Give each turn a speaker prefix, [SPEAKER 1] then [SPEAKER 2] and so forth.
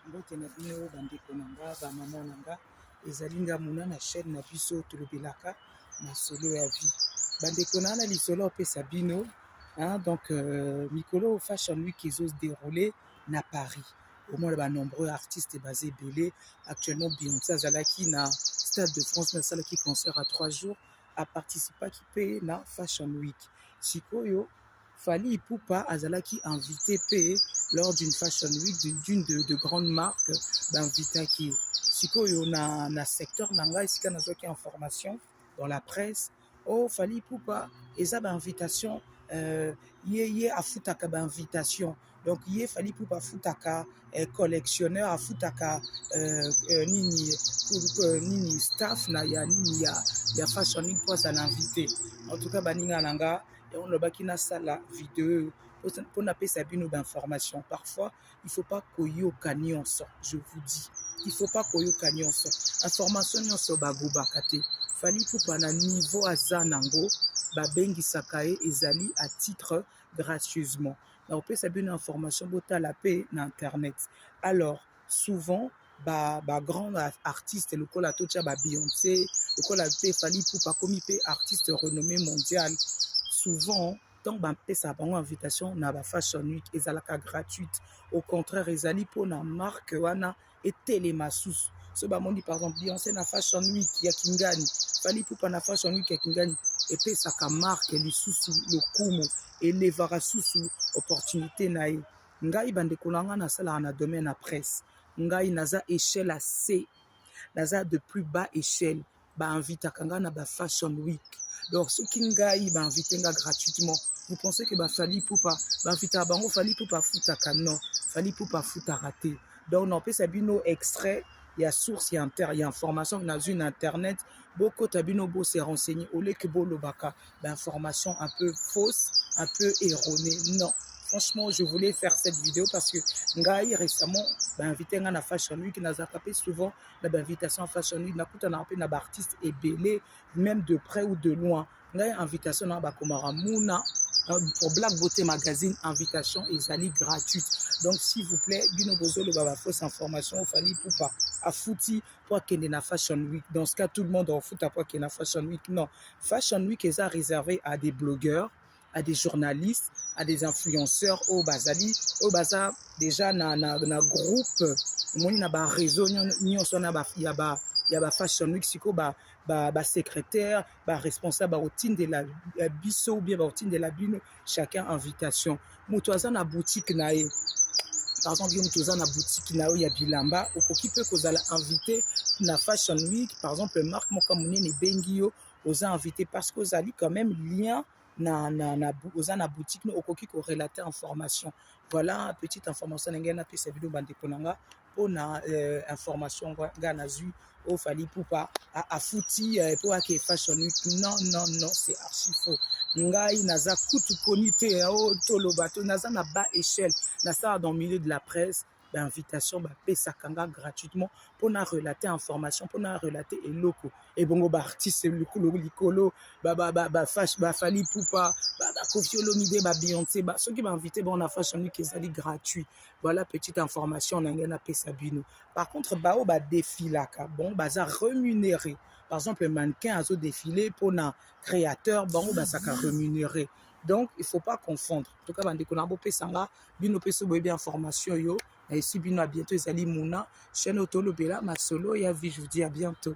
[SPEAKER 1] mbote na bino bandeko na nga bamama na nga ezali nga mona na chaîne na biso tolobelaka masolo ya vie bandeko na na lisolo apesa bino hein, donc euh, mikolo fashion week ezo se déroule na paris omona ba nombreux artistes baza ebele actuellement beyonce azalaki na stade de france mais asalaki concert à trois jours aparticipaki mpe na fashion week sikoyo Fally Ipupa azalaki invité pe lors d'une fashion week d'une de, de grande marque bainvitaki ye sikoyo na, na secteur na ngai esika nazwaki information dans la presse o oh, Fally Ipupa eza bainvitation euh, ye ye afutaka bainvitation donc ye fali pupa afutaka eh, collectionneur afutaka eh, eh, nini eh, nini staff na ya nini ya, ya fashion week mpo azala invité en tout cas baninga na nga yango nalobaki nasala video mpo napesa bino bainformation parfois il faut pas koyoka nyonso je vous dis il faut pas koyoka nyonso information nyonso bagobaka te fali pupa na niveau aza nango babengisaka ye ezali à titre gracieusement nakopesa bino information botala pe na internet alors souvent ba, ba grand artiste lokola totya ba Beyoncé lokola pe Fally Ipupa akomi pe artiste renommé mondial souvent ntango bapesa bango invitation na ba fashion week ezalaka gratuite au contraire ezali mpona marque wana etelema susu so bamoni par exemple beyonce na fashion week ya kingani fali pupa na fashion week ya kingani epesaka marke lisusu lokumu elevaka susu opportunité na ye ngai bandeko na ngai nasalaka na domaine ya presse ngai naza echelle ya c naza de plus bas echelle ba invitaka nga na ba fashion week donc soki ngai ba invite nga gratuitement vous pensez que ba fali pupa ba invitaka bango fali pupa afutaka non fali pupa afutaka te donc naopesa bino extrait ya source ya, inter, ya information nazwi na internet bokota bino bose renseigné oleke bolobaka bainformation un peu fausse un peu erronée non franchement je voulais faire cette vidéo parce que ngai récemment bainvite ngai na fashion week nazalaka mpe souvent na ba invitation fashion week nakutanaka mpe na ba artiste ebele même de près ou de loin ngai invitation na bakomaka muna euh, pour black beauté magazine invitation ezali gratuite donc s'il vous plaît bino bozoloba ba fausse information ofali pupa afuti mpo akende na fashion week dans ce cas tout le monde afuta mpo akende na fashion week non fashion week eza réservé à des blogueurs à des journalistes, à des influenceurs au oh, bazali au oh, baza déjà na na, na groupe omoni na ba réseau nyonso na ba ya ba ya ba fashion week siko ba ba, ba secrétaire ba responsable bakotindela eh, biso ou bien bakotindela bino chacun invitation moto aza na boutique na ye par exemple yo moto oza na boutique na yo ya bilamba okoki mpe kozala invité na fashion week par exemple marque moko monene ebengi yo oza invité parce que ozali quand même lien na, na, na, oza na boutique no okoki korelate information voilà petite information na ngai napesa bino bandeko na nga mpo na euh, information ngai nazwi oyo fali pupa afuti euh, mpo ake fashion week non non non c'est archi faux ngai naza kutu koni te o oh, toloba to naza na bas échelle nasala dans milieu de la presse ba invitation ba pesaka nga gratuitement pour na relater information pour na relater eloko et bongo ba artiste likolo likolo ba ba ba ba fash ba fali poupa ba ba kofi olomide ba Beyoncé ba soki ba invité bon na fashion week ezali gratuit voilà petite information na nga na pesa bino par contre ba o ba défilaka bon baza rémunéré par exemple mannequin azo défiler pour na créateur bango basaka rémunéré donc il faut pas confondre toka bandeko na bopesa nga bino mpe soki boyebi information oyo na esi bino ya bientôt ezali muna chaine oyo tolobela masolo ya vie je vous dis à bientôt